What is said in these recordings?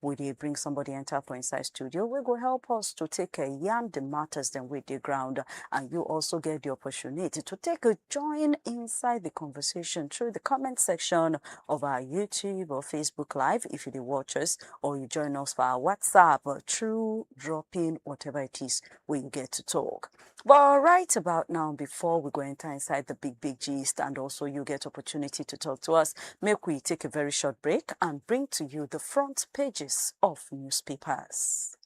we dey bring somebody enter for inside studio wey go help us to take uh, yarn the matters dem wey dey ground and you also get the opportunity to take a join inside the conversation through the comment section of our youtube or facebook live if you dey watch us or you join us for our whatsapp uh, through dropping whatever it is wey you get to talk Well, right about now, before we go enter inside the big, big gist, and also you get opportunity to talk to us, make we take a very short break and bring to you the front pages of newspapers.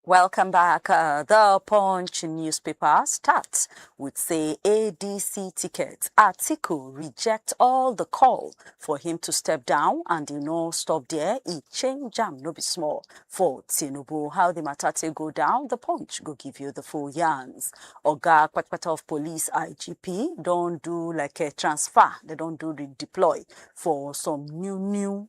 Welcome back. Uh, the Punch newspaper starts with say ADC ticket. Atiku reject all the call for him to step down and he no stop there. He change jam no be small for Tinubu. How the matter take go down? The Punch go give you the full yarns. Oga Kwatkwata of Police IGP don't do like a transfer. They don't do the deploy for some new new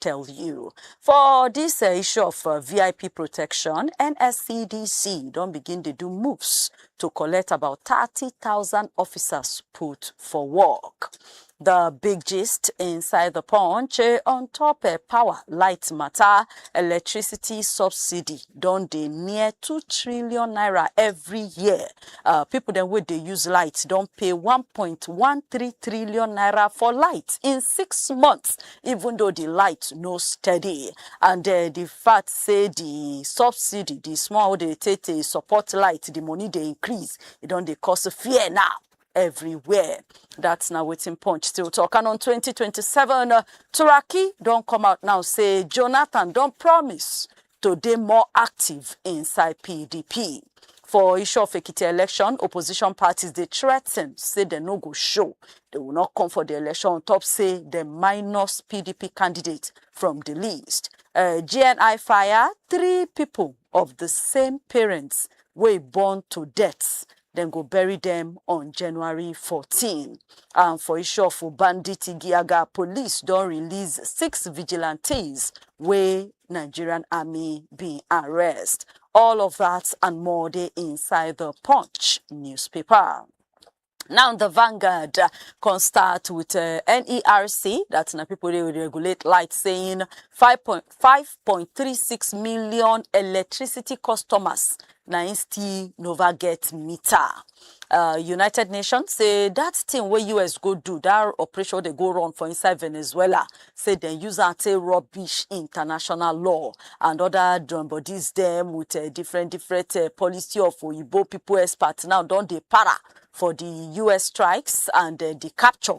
tell you. For dis uh, issue of uh, VIP protection, NSCDC don begin dey do moves to collect about 30,000 officers put for work. The big gist inside the punch eh, on top eh, power, light matter, electricity subsidy don dey near 2 trillion naira every year. Uh, people dem wey dey use light don pay 1.13 trillion naira for light in six months. even though the light no steady and uh, the fact say the subsidy the small wey dey take dey support light the money dey increase e don dey cause fear now everywhere that's na wetin punch still talk and on 2027 uh, turaki don come out now say jonathan don promise to dey more active inside pdp. For Isho-of-Ekiti election, opposition parties dey threaten say dem no go show, dem will not come for the election on top say dem minus pdp candidate from the list. Uh, GNI fire three people of the same parents wey born to death dem go bury dem on January 14. And for Ishofu, bandit Igiaga police don release six vigilantes wey Nigerian army bin arrest. All of that and more dey inside the Punch newspaper. Now the Vanguard uh, can start with uh, NERC, that's na people they will regulate light saying 5.5 5.36 million electricity customers na im still nova get meter uh, united nations say dat thing wey us go do dat operation wey dey go run for inside venezuela say dem use am take rubbish international law and oda drum bodies dem with uh, different different uh, policy of oyibo pipo experts now don dey para for di us strikes and uh, di capture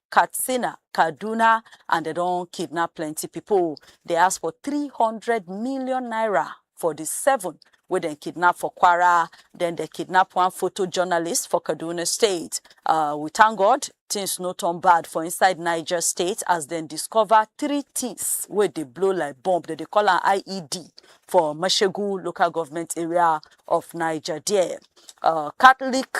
Katsina, Kaduna and dem don kidnap plenty pipo. Dey ask for three hundred million naira for di seven wey dem kidnap for Kwara. Den dem kidnap one photo journalist for Kaduna State. Uh, we thank God, things no turn bad for inside Niger State as dem discover three things wey dey blow like bomb. Dem dey call am IED for Mashegu local government area of Niger there. Uh, Catholic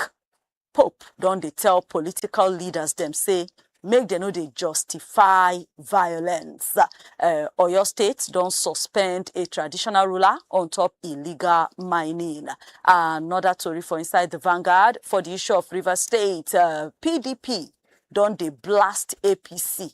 Pope don dey tell political leaders dem say make dem no dey justify violence. Uh, Oyo State don suspend a traditional ruler on top illegal mining. Another tori for inside the Vanguard for the issue of Rivers State, uh, PDP don dey blast APC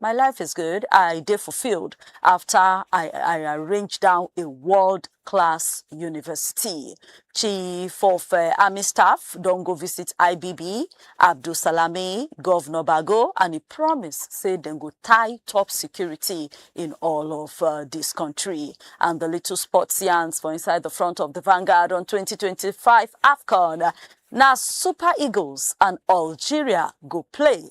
My life is good, I dey fulfilled after I, I arrange down a world class university. Chief of uh, Army Staff don go visit IBB, Abdul Salami, Governor Bago, and he promise say dem go tie top security in all of uh, this country. And the little sports yarns for inside the front of the Vanguard on 2025 AFCON. Now Super Eagles and Algeria go play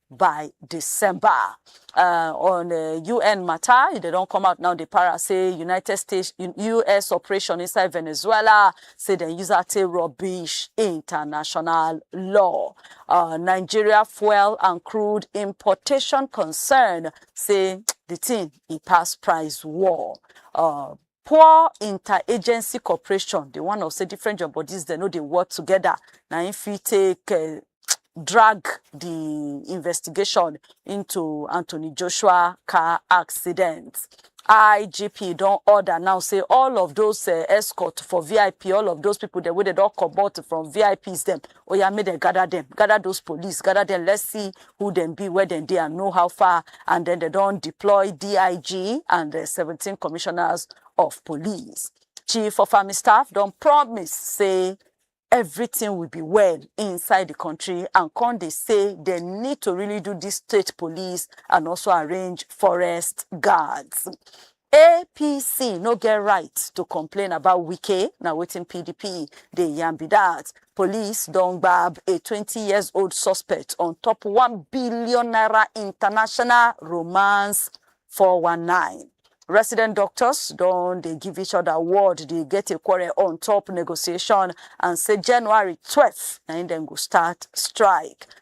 by december uh, on uh, un matter e dey don come out now dey para say united states us operation inside venezuela say dem use am take rubbish international law uh, nigeria fuel and crude importation concern say the thing e pass price war uh, poor interagency cooperation, the one of say different job bodies they no dey work together. Now if we take uh, drag the investigation into Anthony Joshua car accident. IGP don order now say all of those uh, escort for VIP, all of those people that wey they don comot from VIPs them, oya make dem gather dem gather those police gather dem let's see who dem be where dem dey and know how far and then dem don deploy dig and the seventeen commissioners of police chief of army staff don promise say everything will be well inside the country and come dey say they need to really do this state police and also arrange forest guards. APC no get right to complain about Wike, na wetin PDP dey yarn be dat. Police don gbab a twenty years old suspect on top one billion naira international romance four one nine. Resident doctors don dey give each other word dey get a quarrel on top negotiation and say January twelve na im dem go start strike.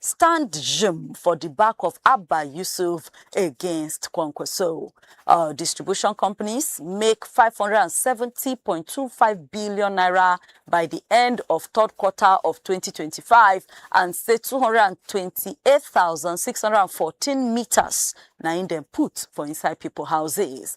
stand jim for di back of abba yusuf against kwankwaso uh, distribution companies make 570.25 billion naira by the end of third quarter of 2025 and say 228,614 meters na in dem put for inside people houses.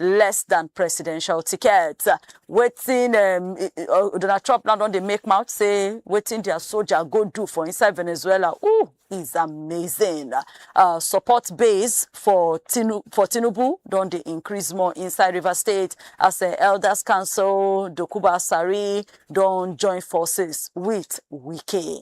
less dan presidential ticket wetin um, i- i- uh, donald trump now don dey make mouth say wetin their soldier go do for inside venezuela ooh is amazing uh, support base for Tinu- for tinubu don dey increase more inside rivers state as uh, elders council dokuba sari don join forces with wike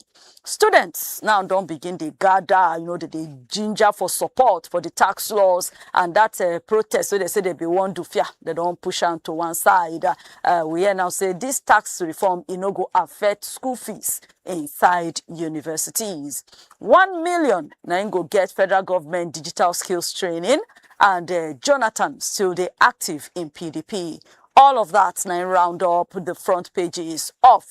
Students now don begin dey gather, you know, they dey ginger for support for the tax laws and that uh, protest. So they say they be one do fear. They don't push on to one side. Uh, we hear now say this tax reform it no go affect school fees inside universities. One million now im go get federal government digital skills training, and uh, Jonathan still dey active in PDP. All of that now round up the front pages of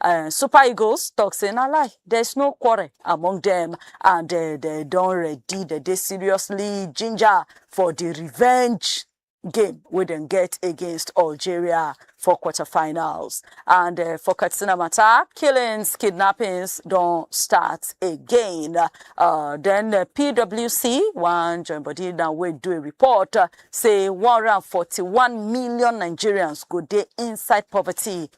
um Super Eagles talk say na lie, there is no quarrel among them and they, they don ready, they dey seriously ginger for the revenge game wey dem get against Algeria for quarterfinals. And uh, for Katsina matter, killings, kidnappings don start again. Uh, then uh, PWC, one join body now wey do a report, uh, say 141 million Nigerians go dey inside poverty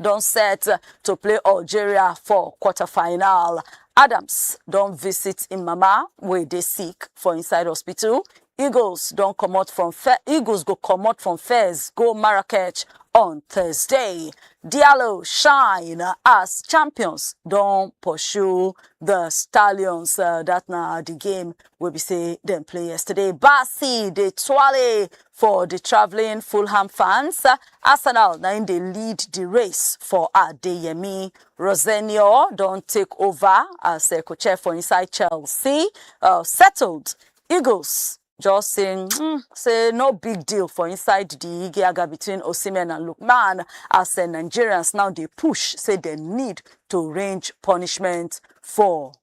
don set to play algeria for quarter-final adams don visit im mama wey dey sick for inside hospital eagles don comot from Fe- eagles go comot from fez go marrakech on thursday diallo shine as champions don pursue the stallions uh, that na the game wey be say dem play yesterday basi dey twale For di travelling Fulham fans, Arsenal na im dey lead di race for Adeyemi. Rosenior don take ova as co-chair for inside Chelsea. Settled Eagles just say say no big deal for inside di igiaga between Osimhen and Lookman as Nigerians now dey push say dem need to range punishment for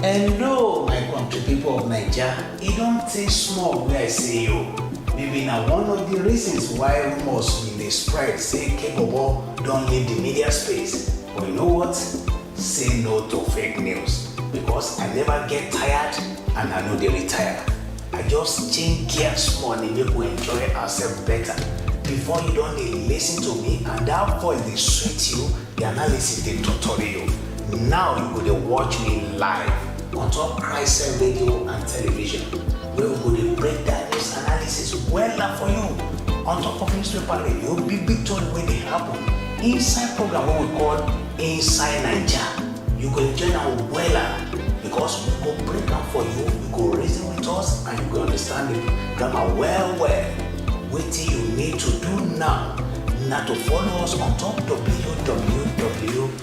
Hello, my country people of Naija. E don tey small wey I see you. Maybe na one of the reasons why rumors bin dey spread say Kebobo don leave the media space. But you know what? Say no to fake news because I never get tired and I no dey retire. I just change gear small dey make we enjoy ourselves better. Before you don dey listen to me and that voice dey sweet you, the analysis dey totori you. Now you go dey watch me live on top Christ Radio and television We go dey break down news analysis wella for you on top of newspaper radio big big tori wey dey happen inside program wey we call Inside Naija. You go enjoy am wella because we go break am for you, you go reason with us and you go understand the grammar well well. Wetin you need to do now na to follow us on top www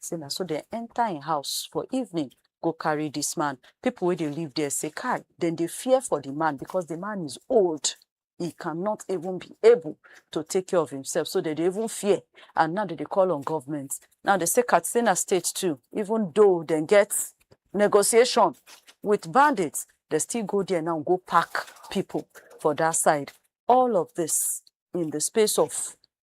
sey na so dem enter im house for evening go carry dis man. Pipu wey dey live dere sey kai! Dem dey fear for di man because di man is old, he cannot even be able to take care of himself, so dem dey even fear and now dem dey call on government. Now dem sey Katsina state too, even though dem get negotiation wit bandits, dem still go dere now go pack pipu for dat side. All of dis in di space of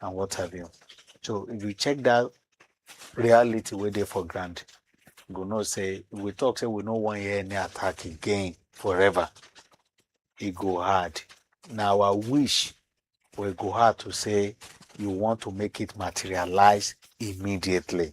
and what have you. So if you check that reality where they for granted, you go know say we talk say we no one hear any attack again forever. It go hard. Now I wish we go hard to say you want to make it materialize immediately.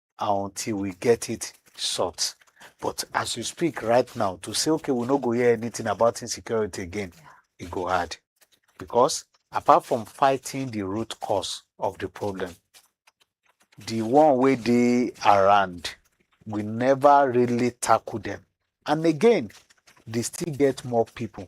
and until we get it sort. But as you speak right now, to say, okay, we no go hear anything about insecurity again, it go hard. Because apart from fighting the root cause of the problem, the one way they around, we never really tackle them. And again, they still get more people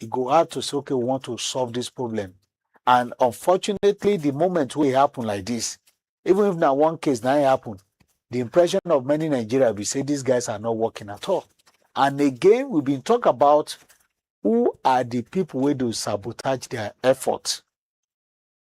e go hard to say okay we want to solve this problem and unfortunately the moment wey e happen like this even if na one case na e happen the impression of many nigeria be say these guys are not working at all and again we been talk about who are the people wey dey sabotage their effort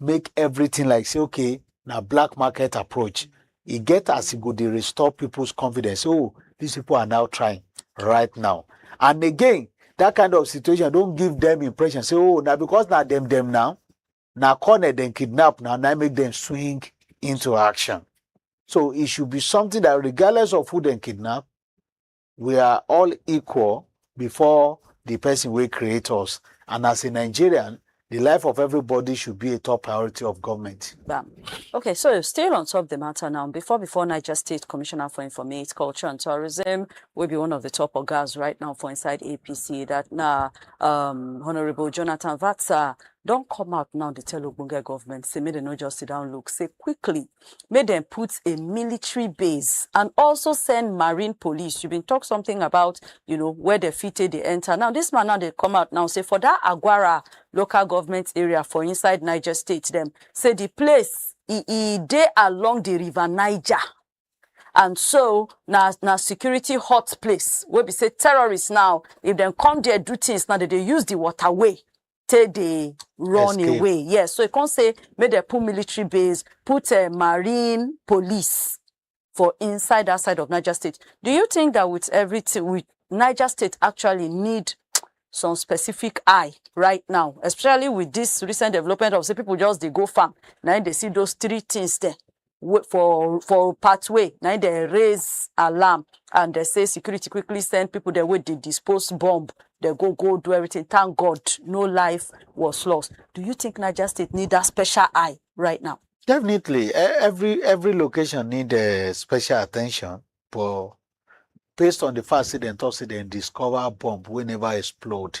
make everything like say okay na black market approach e get as e go dey restore people's confidence oh these people are now trying right now and again that kind of situation don give them impression say oh na because na dem dem now na corner dem kidnap now na make dem swing into action so it should be something that regardless of who dem kidnap we are all equal before the person wey create us and as a nigerian the life of everybody should be a top priority of government. Bam. Okay, so still on top of the matter now, before before Niger State Commissioner for Informate, Culture and Tourism will be one of the top organs right now for inside APC that now um, Honorable Jonathan Vatsa don't come out now to tell Ogbonge government, say make they no just sit down look, say quickly make dem put a military base and also send marine police you bin talk something about you know where dem fit take dey enter now this man now dey come out now say for that agwara local government area for inside niger state dem say the place e e dey along the river niger and so na na security hot place wey be say terrorists now if dem come there do things now dem dey use the waterway take dey run Escape. away yes so e come say make dem put military base put uh, marine police for inside that side of niger state do you think that with everything with niger state actually need some specific eye right now especially with this recent development of say people just dey go farm na im dey see those three things there wey for for pathway na im dem raise alarm and dem say security quickly send people dem wey dey dispose bomb dem go go do everything thank God no life was lost do you think Niger State need that special eye right now Definitely, e- every every location need uh, special attention, but based on the fact say dem talk say dem discover bomb wey never explode,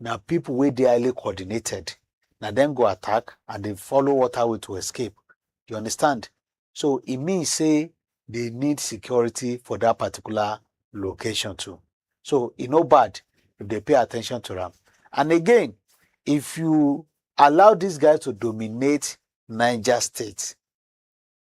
Na people wey dey highly coordinated, na dem go attack and dey follow waterway to escape. You understand? So e mean say dey need security for that particular location too. So e no bad if dey pay attention to am. And again, if you allow these guys to dominate Niger State,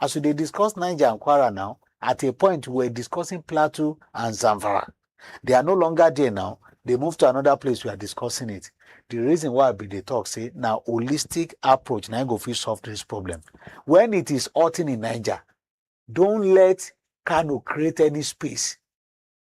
As we dey discuss Niger and Kwara now, at a point we were discussing Plateau and Zamfara. They are no longer there now. They move to another place we are discussing it. The reason why I be dey talk say na holistic approach na im go fit solve this problem. When it is hurting in Niger, don't let Kano create any space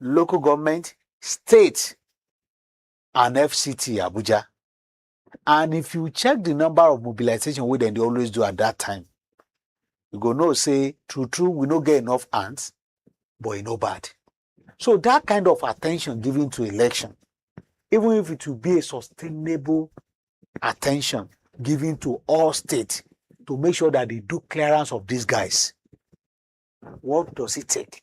local government, state, and FCT Abuja. And if you check the number of mobilization wey dem dey always do at that time, you go know say true true we no get enough hands, but e no bad. So that kind of attention given to election, even if it will be a sustainable attention given to all states to make sure that they do clearance of these guys, what does it take?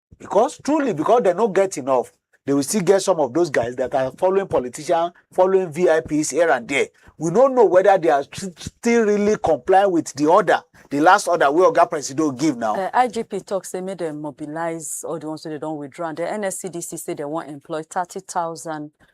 because truly because they no get enough they will still get some of those guys that are following politicians following vips here and there we no know whether they are st- still really complying with the order the last order wey oga presido give now. Uh, igp talk say make dem mobilize all the ones wey dey don withdraw and the nscdc say dem wan employ thirty thousand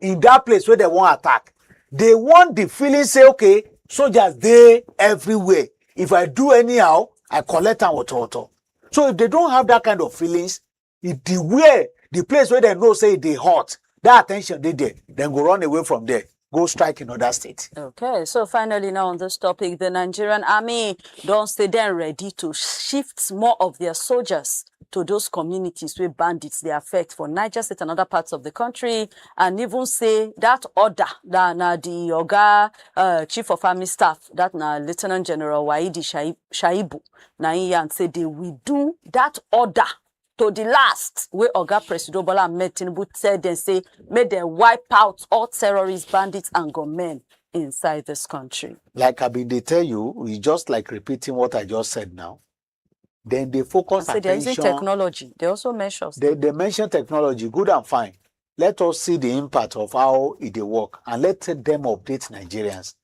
in that place wey dem wan attack they want the feeling say okay soldiers dey everywhere if i do anyhow i collect am wotowoto so if they don have that kind of feelings e the where the place wey dem know say e dey hot that attention dey there dem go run away from there go strike in other state. Okay, so finally now on this topic, the Nigerian army don't stay then ready to shift more of their soldiers to those communities wey bandits dey affect for Niger State and other parts of the country and even say that order that na the Oga uh, Chief of Army Staff, that na Lieutenant General Waidi Shai- Shaibu, na him yarn say they will do that order to the last wey Oga Presido Bola Ahmed Tinubu tell them say make dem wipe out all terrorists, bandits and gunmen inside this country. Like I been dey tell you, it's just like repeating what I just said now. then they focus say they're using attention technology. They also measure. they, they mention technology good and fine let us see the impact of how e dey work and let them update nigerians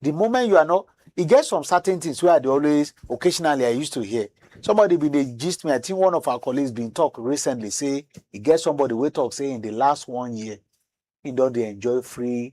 the moment you are not e get some certain things wey i dey always occasionally i used to hear somebody bin dey gist me i think one of our colleagues bin talk recently say e get somebody wey talk say in the last one year he don dey enjoy free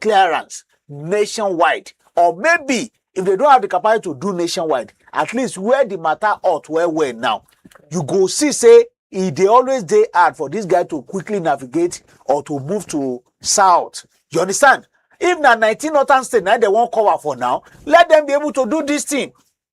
clearance nationwide or maybe if they don't have the capacity to do nationwide at least where the matter hot well well now you go see say e dey always dey hard for this guy to quickly navigate or to move to south you understand if na nineteen northern state na dem wan cover for now let them be able to do this thing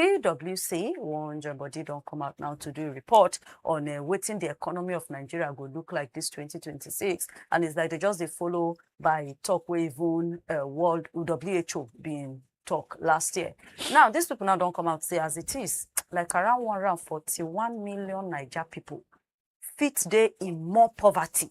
PWC wan join body don come out now to do a report on uh, wetin the economy of Nigeria go look like this 2026 and it's like they just dey follow by talk wey even uh, world WHO bin talk last year. Now these people now don come out say as it is like around 141 million Naija people fit dey in more poverty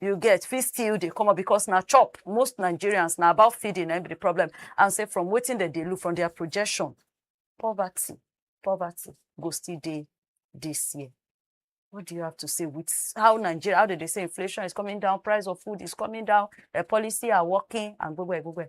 you get fit still dey come up because na chop most nigerians na about feeding na im be the problem and say from wetin dem dey look from their projection poverty poverty go still dey this year what do you have to say with how nigeria how dem dey say inflation is coming down price of food is coming down eh, policy are working and gbogbo ẹ gbogbo ẹ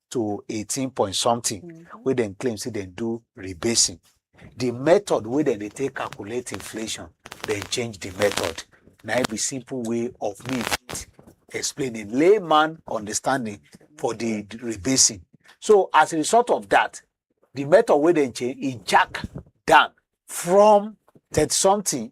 to eighteen point something Mm. wey dem claim say dem do rebasing the method wey dem dey take calculate inflation dem change the method na im be simple way of me fit explain in layman understanding for the rebasing so as a result of that the method wey dem change e jack down from thirty something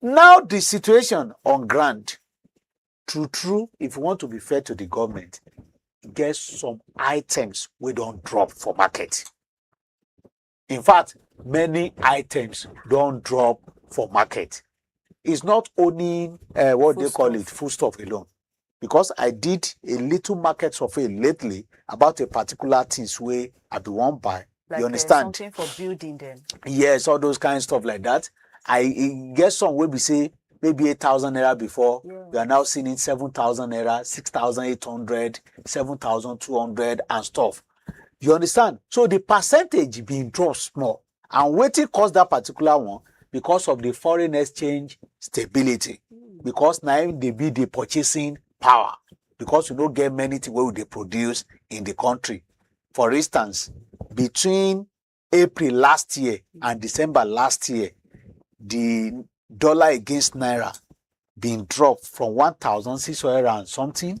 Now the situation on ground, true true, if you want to be fair to the government, e get some items wey don drop for market. In fact, many items don drop for market. It's not only uh, what they call it, Foodstuff. foodstuff alone. because I did a little market survey lately about a particular things wey I be wan buy. Like you uh, understand? Uh, something for building them. Yes, all those kind of stuff like that. I e get some wey be say maybe eight thousand naira before yeah. we are now seeing it seven thousand naira six thousand eight hundred seven thousand two hundred and stuff you understand so the percentage been drop small And wetin cause that particular one? Because of the foreign exchange stability. Because na im dey be the purchasing power. Because we no get many things wey we dey produce in the country. For instance, between April last year and December last year, the dollar against naira been drop from 1,600 and something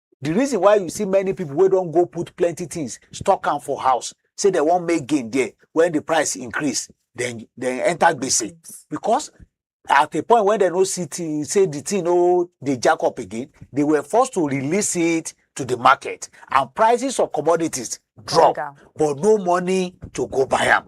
the reason why you see many people wey don go put plenty things stock am for house say they wan make gain there when the price increase then then enter gbese because at a point when they no see thi- say the thing no dey jack up again they were forced to release it to the market and prices of commodities drop down. but no money to go buy am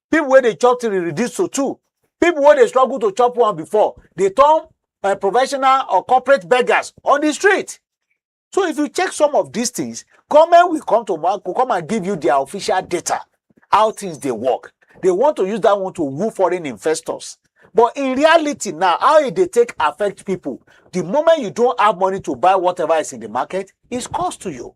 people wey dey chop three reduce to two people wey dey struggle to chop one before dey turn uh, professional or corporate beggars on the street so if you check some of these things government will come to ma- will come and give you their official data how things dey work they want to use that one to woo foreign investors but in reality now how e dey take affect people the moment you don have money to buy whatever is in the market is cost to you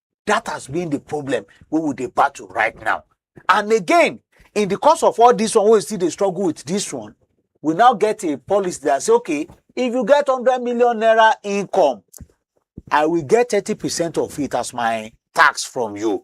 that has been the problem we will dey battle right now and again in the course of all this one we still dey struggle with this one we now get a policy that say okay if you get hundred million naira income i will get thirty percent of it as my tax from you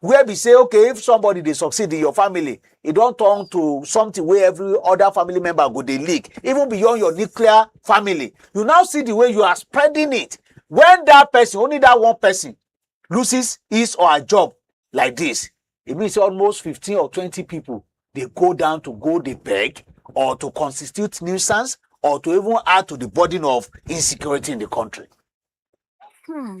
where be say okay if somebody dey succeed in your family e don turn to something wey every other family member go dey leak even beyond your nuclear family you now see the way you are spreading it when that person only that one person loses his or her job like this e mean say almost fifteen or twenty people dey go down to go dey beg or to constitute nuisance or to even add to the burden of insecurity in the country. Hmm.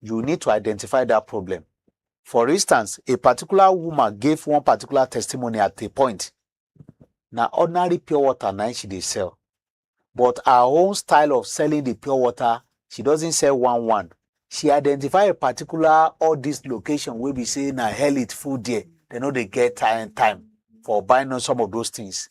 you need to identify that problem. For instance, a particular woman gave one particular testimony at a point. Na ordinary pure water na im she dey sell. But her own style of selling the pure water, she doesn't sell one one. She identify a particular all this location wey be say na hell it full there. They no dey get time time for buying on some of those things.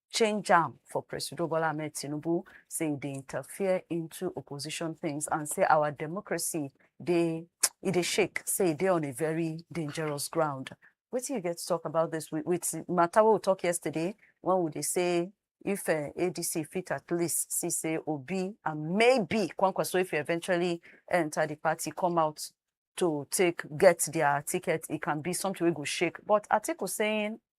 change am for Presido Bola Ahmed Tinubu, say e dey interfere into opposition things and say our democracy dey e dey shake, say e dey on a very dangerous ground. Wetin you get to talk about this with, with matter wey we talk yesterday when we dey say if uh, ADC fit at least see say Obi and maybe Kwankwaso if he eventually enter the party come out to take get their ticket, it can be something we go shake. But Atiku saying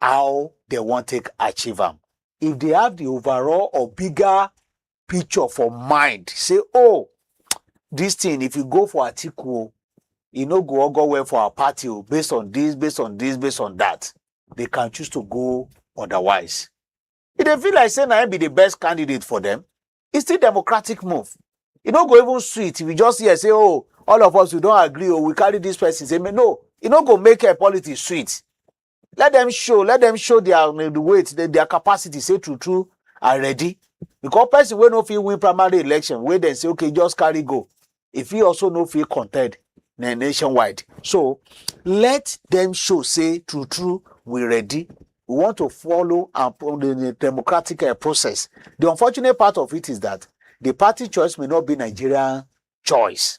how dem wan take achieve am if they have the overall or bigger picture for mind say oh this thing if you go for atiku o e no go all go well for our party o based on this based on this based on that they can choose to go otherwise e dey feel like say na him be the best candidate for them e still democratic move e no go even sweet if you just hear say oh all of us we don agree oh we carry this person say me no e no go make uh, politics sweet let them show let them show their um, the weight their, their capacity say true true are ready because person wey no fit win primary election wey dem say okay just carry go e fit also no fit contend na nationwide so let them show say true true we ready we want to follow and pro- the the democratic uh, process the unfortunate part of it is that the party choice may not be nigerian choice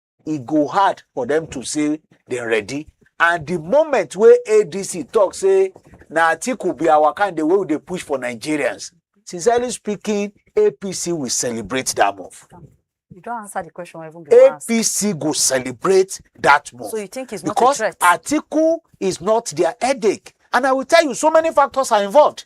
e go hard for them to say dem ready and the moment wey adc talk say na atiku be our candidate wey we dey push for nigerians sincerely speaking apc will celebrate that move You don't answer the question I even be asked. apc go celebrate that move So you think it's not a because threat? atiku is not their headache and i will tell you so many factors are involved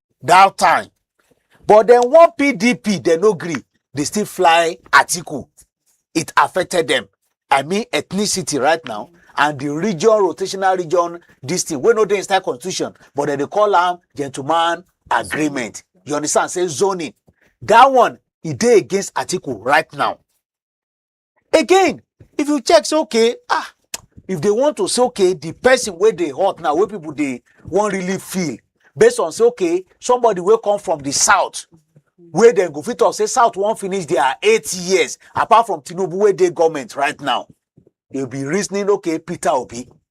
that time. But then one PDP, they no agree. They still fly Atiku. It affected them. I mean ethnicity right now and the region rotational region this thing wey no dey inside constitution but dem dey call am gentleman agreement you understand say zoning that one e dey against article right now again if you check say okay ah if they want to say okay the person wey dey hot now wey people dey wan really feel based on say okay somebody wey come from the south wey dem go fit talk say south wan finish their eight years apart from tinubu wey dey government right now they be reasoning okay peter obi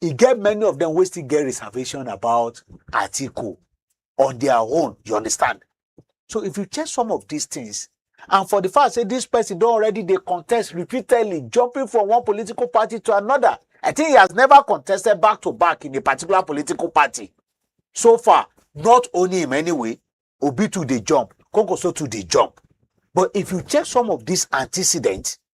e get many of them wey still get reservation about Atiku on their own. You understand? So if you check some of these things, and for the fact say this person don already dey contest repeatedly, jumping from one political party to another, I think he has never contested back to back in a particular political party. So far, not only him anyway, Obi too dey jump, Konkoso too dey jump. But if you check some of these antecedents,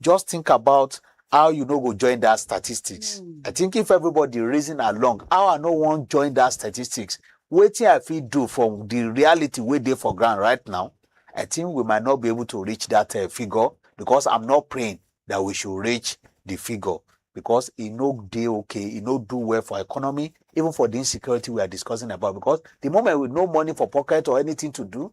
just think about how you no go join that statistics Mm. i think if everybody reason along how i no wan join that statistics wetin i fit do for the reality wey dey for ground right now i think we might not be able to reach that uh, figure because i'm not praying that we should reach the figure because e no dey okay e no do well for economy even for the insecurity we are discussing about because the moment we no money for pocket or anything to do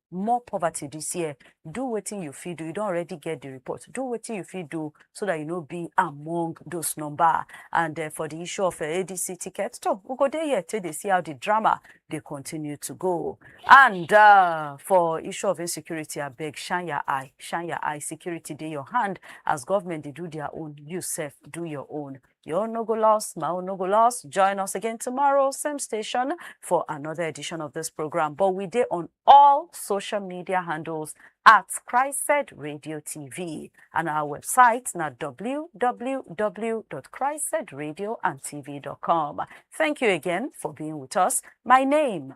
more poverty this year do wetin you fit do you don already get the report do wetin you fit do so that you no be among those number and uh, for the issue of uh, eh, adc ticket so we go there here till they see how the drama they continue to go and uh, for issue of insecurity I beg shine your eye shine your eye security dey your hand as government they do their own you self do your own Yo no go lost, Mao no go lost. Join us again tomorrow, same station, for another edition of this program. But we dey on all social media handles at Christ Said Radio TV. And our website na www.christsaidradio and tv.com. Thank you again for being with us. My name